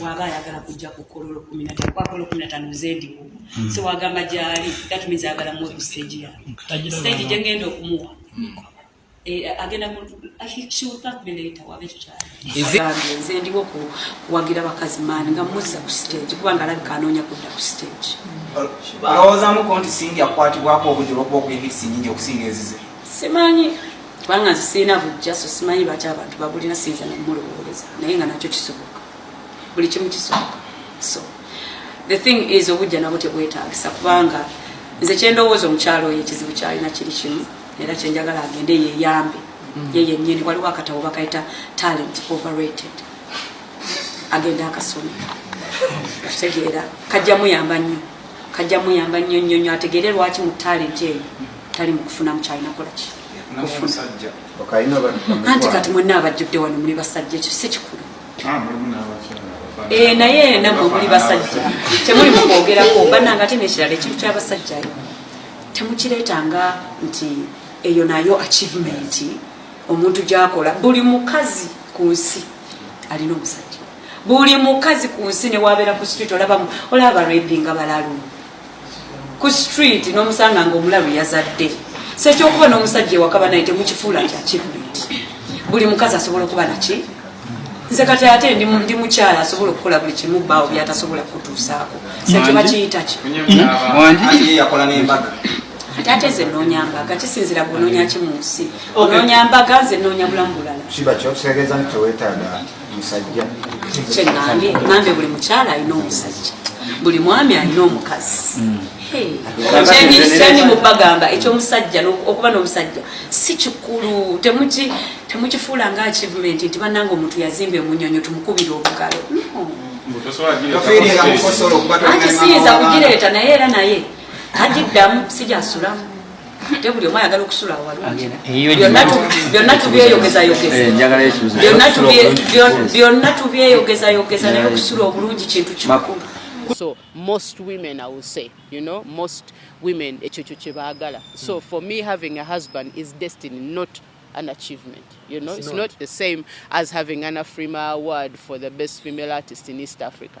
waba ayagala kujja ku kololo kumi na tano kwakololo kumi na tano nzendiwo hmm. so wagamba gyali that means ayagala muwe ku stage ya stage gye ngenda okumuwa hmm. eh, agenda mu akikiwukakubileeta waba ekyo kyagambye nze ndiwo kuwagira bakazi maani nga muzza ku stage kubanga alabika anoonya kudda ku stage hmm. alowoozamuko nti singi akwatibwako obujulobwa obwehisi nyingi okusinga ezize simanyi kubanga nze sirina bujja so simanyi lwaki abantu babulina siyinza namumulowooleza naye nga nakyo kisoboka buli kimu kisoboka so the thing is obujja nabwo tebwetagisa kubanga nze kyendowooza omukyalo oyo ekizibu kyalina kiri kimu era kyenjagala agende yeyambe mm. ye yenyini waliwo akatabo bakayita talent overrated agende akasoma kitegeera kajja muyamba nnyo kajja muyamba nnyo nnyo nnyo ategeere lwaki mu talent eyo tali mukufunamu kyalina kolaki anti kati mwena abajjudde wano muli basajja ekyo si kikulu ah, eh, naye namwe muli basajja temuli mukwogerako bananga ate nekirala ekintu kyabasajjayo temukireetanga nti eyo nayo achievement omuntu gyakola buli mukazi ku nsi alina omusajja buli mukazi ku nsi newabeera ku street olaba olaba barepinga balalu ku street nomusanga nga omulalu yazadde sekyokuba nomusajja ewakaba naye temukifuula kyakibuliti buli mukazi asobola okuba naki nze kati ate ndi mukyala asobola okukola buli kimu baawo byatasobola kutuusaako sekyebakiyitaki ate ate nze noonya mbaga kisinzira gwe onoonya ki mu nsi onoonya mbaga nze noonya bulamu bulala musajja kyeŋambye ŋambye buli mukyala alina omusajja buli mwami alina omukazi hmm. kyendi mubagamba ekyomusajja okuba nomusajja si kikulu temukifuula nga achievement nti bananga omuntu yazimba emunyonyo tumukubira obugalo ati siyinza kugireeta naye era naye agiddamu sijasulamu ate buli omu ayagala okusula awalungibyonna tubyeyogezayogeza naye okusula obulungi kintu kikulu so most women i will say you know most women ekyo kyo kyebaagala so for me having a husband is destiny not an achievement. You know, it's, it's not. not. the same as having an Afrima award for the best female artist in East Africa.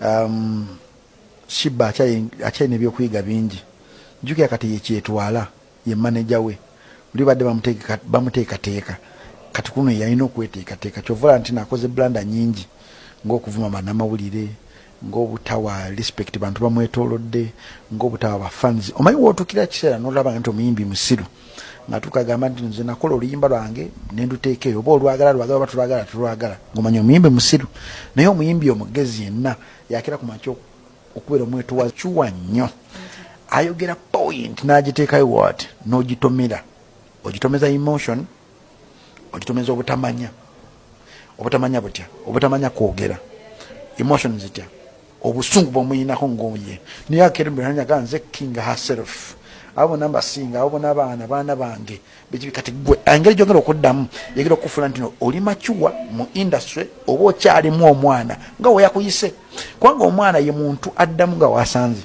um, shiba akyalina ebyokuyiga bingi njukira kati yekyetwala ye maneja we oli badde bamuteekateeka kati kuno yalina okweteekateeka kyovola nti nakoze blanda nyingi ngaokuvuma banamawulire ngaobutawa respect bantu bamwetolodde ngaobutawa bafans omanyi wotukira kiseera nolaba nti omuyimbi musiru nga tukagamba nti nze nakola oluyimba lwange nenduteeka eyo oba olwagala lwagala oba tulwagala tulwagala ngomanya omuyimbi musiru naye omuyimbi omugezi yenna yakira ku makya okubeera omwetuwa kiwa nnyo ayogera point nagiteekayo wat nogitomera ogitomeza emotion ogitomeza obutamanya obutamanya butya obutamanya kwogera emotion zitya obusungu bwomuyinako ngoye naye akereberanyaga nze king herself abo bona mbasinga abo bona abaana baana bange bekibi kati gwe engeri gyogera okuddamu yegera okufula nti no oli macuwa mu industry oba okyalimu omwana nga weyakuyise kubanga omwana ye muntu addamu nga wasanze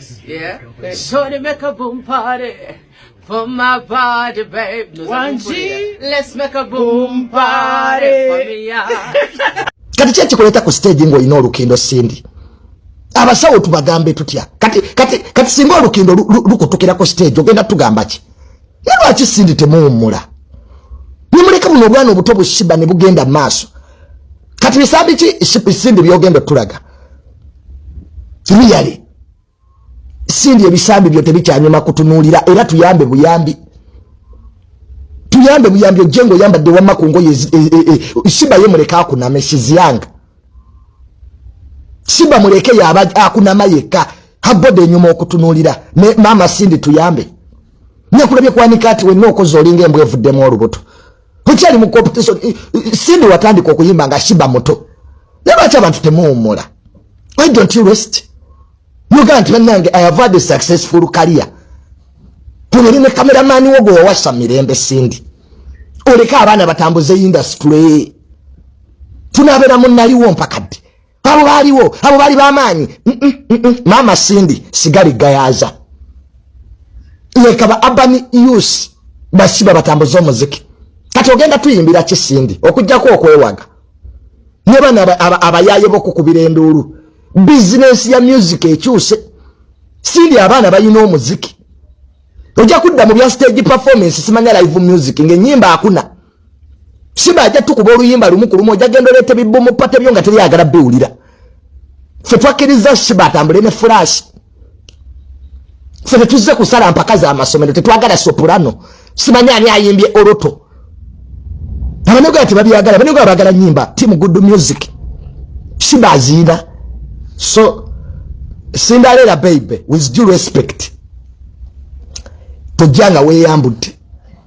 Yeah. Shorty make a boom party for my body, babe. No, One G. Let's make a boom party for me, yeah. Kati kye kikuleta ku stage ngo ino lukindo sindi. Abasawo tubagambe tutya. Kati kati kati singo lukindo lukutukira ku stage ogenda tugamba ki? naye lwaki sindi temuwummula nemuleka buno obwana obuto bushiba ne bugenda maaso kati bisambi ki sindi byogenda otulaga riyale sindi ebisambi byo tebikyanyuma kutunuulira era tuyambe buyambi tuyambe buyambi ojje ngaoyambadde wamma ku ngoye e, e, e, siba ye muleke akuname siziyanga siba muleke yaba akunama yekka habbode enyuma okutunuulira ne maama sindi tuyambe Nyakulabye kwanika ati wenna okoze olinga embwa evuddemu olubuto. Okyali mu competition Cindy watandika okuyimba nga shiba muto. Naye lwaki abantu temuwummula? Why don't you rest? Yoga nti bannange I have had a successful career. Tubere ne kameramani wo gwe wawasa mirembe Cindy. Oleka abaana batambuze industry. Tunabeera mu naliwo mpaka ddi? abo baaliwo abo baali bamaanyi maama sindi sigala egayaza leka ba abani us basiba batambuza omuziki kati ogenda tuyimbira ki sindi okujjako okwewaga ne bano abayaye bokukubira enduulu bizinensi ya music ekyuse sindi abaana balina omuziki ojja kudda mu bya stage performance simanya live music ngaenyimba akuna siba ajja tukuba oluyimba lumu ku lumu ojja genda oleeta ebibumu pate byo nga teryagala biwulira ffe twakkiriza siba atambule ne fulashi ffe tetuzze kusala mpaka za masomero tetwagala sopurano simanyi ani ayimbye oroto abanyogola tebabyagala abanyogola bagala nyimba timu good music siba aziina so sindaleera baibe with due respect tojja nga weyambudde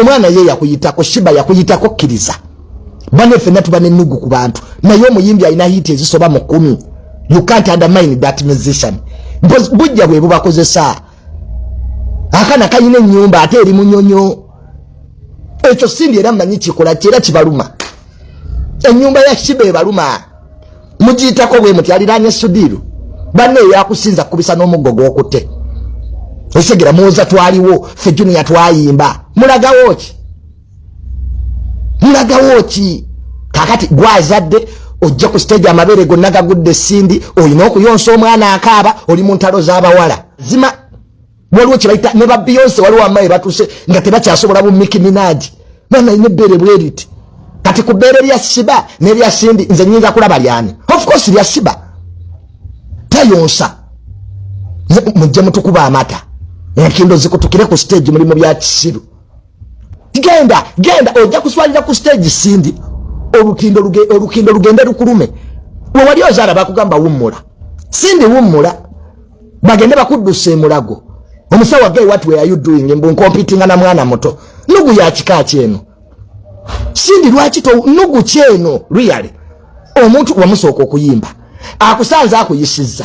omwana ye yakuyitako shiba yakuyitako kiriza bane fena tuba ne nugu ku bantu naye omuyimbi alina hit ezisoba mu kumi you can't undermine that musician because bujja bwe bubakozesa akana kayina enyumba ate eri munyonyo ekyo sindi era manyi kikola kyera kibaluma enyumba ya shiba ebaluma mugiyitako bwe muti aliraanye sudiiru banne eyakusinza kukubisa n'omuggo gw'okutte osegera muwoza twaliwo ffe juniya twayimba mulagawo ki mulagawo ki kakati gwazadde ojja ku siteegi amabeere gonna gagudde sindi olina okuyonsa omwana akaaba oli mu ntalo z'abawala zima waliwo kyebayita ne ba beyonce waliwo amayi batuse nga tebakyasobola bumiki minaji mwana ine bere bweriti kati ku bere lya siba ne lya sindi nze nyinza kulaba lyani of course lya siba tayonsa mujje mutukuba amata enkindo zikutukire ku stage mulimu bya kisiru genda genda ojja kuswalira ku stage sindi olukindo olukindo lugende lukulume we wali ozaala bakugamba wummula sindi wummula bagende bakuddusa emulago omusawa gay what were you doing mbu nkompitinga na mwana muto nugu ya kika kyeno sindi lwaki to nugu kyeno really omuntu wamusooka okuyimba akusanze akuyisizza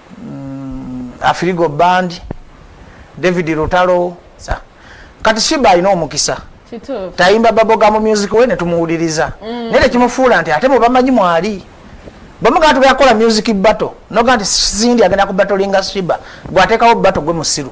mm, afirigo band david lutalo kati shiba alina omukisa tayimba baboga mu music we netumuwuliriza mm. naye tekimufuula nti ate mubamanyi mwali bamugaa tugenda kukola music battle noga nti sindi agenda ku batolinga shiba gwateekawo battle gwe musiru